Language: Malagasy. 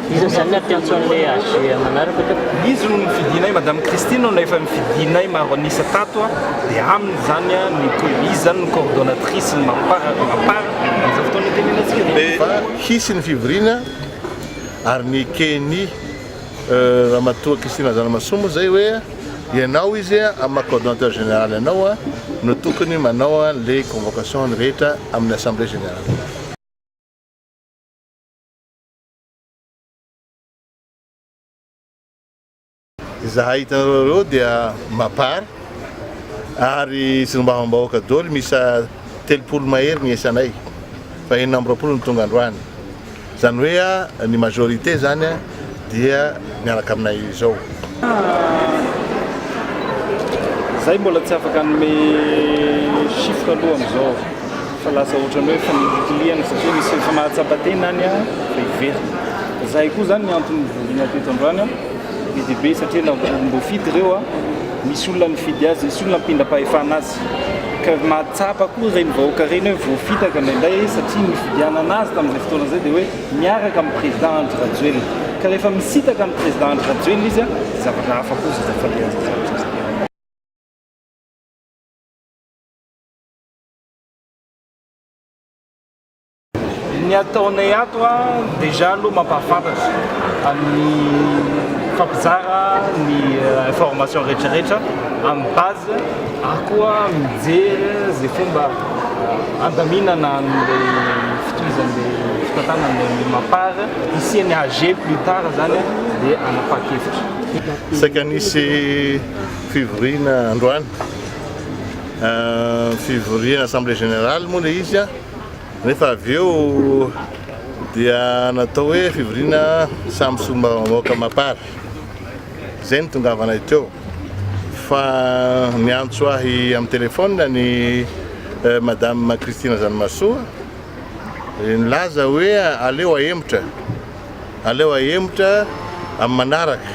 Iza izany ny ampiantso an'ilay AG manaraka ka? Izy no nofidinay, Madame Christine no efa nofidinay maro an'isa tato dia aminy izany no izy izany no coordonnatrice ny Mapar, Mapar amin'izao fotoana itenenantsika dia hisy ny fivoriana ary ny Ceni. Ramatoa Christine Razanamasoa moa izay hoe ianao izy amin'ny maha coordonnateur général anao no tokony manao an'ilay convocation ny rehetra amin'ny assemblée générale. Izahay hitanareo ireo dia mapar ary solombavambahoaka doly miisa telopolo mahery ny isanay fa enina amby roapolo no tonga androany. Zany hoe ny majorité zany dia miaraka aminay izao. Zahay mbola tsy afaka hanome chiffre aloha amizao fa lasa otrany hoe fanilikilihana satria misy efa mahatsapa tena any an de hiverina. Zahay koa zany ny antony nivoriana teto androany an be de be satria na mbofidy ireo an misy olona nifidy azy, misy olona ampihindrapahefana azy. Ka mahatsapa koa ireny vahoaka ireny hoe voafitaka indraindray izy satria ny nifidianana azy tamin'izay fotoana izay dia hoe miaraka amin'ny président Andry Rajoelina. Ka rehefa misintaka ny président Andry Rajoelina izy dia zavatra hafa koa izay falehan' izay zavatra izay. Ny ataonay ato a, déjà aloha mampahafantatra amin'ny mifampizara ny information rehetrarehetra amin'ny base ary koa mijery izay fomba handaminana an'ilay fitohizan'ilay fitantanan'ny Mapar hisian'ny AG plus tard zany dia hanapahan-kevitra. Saika nisy fivoriana androany, fivoriana assemblée générale moa ilay izy a. Nefa avy eo dia natao hoe fivoriana samy solombavambahoaka mapar. Izay no tongavanay teo. Fa niantso ahy amin'ny telefaonina ny Madame Christine Zanimasoa, nilaza hoe aleo ahemotra, aleo ahemotra amin'ny manaraka.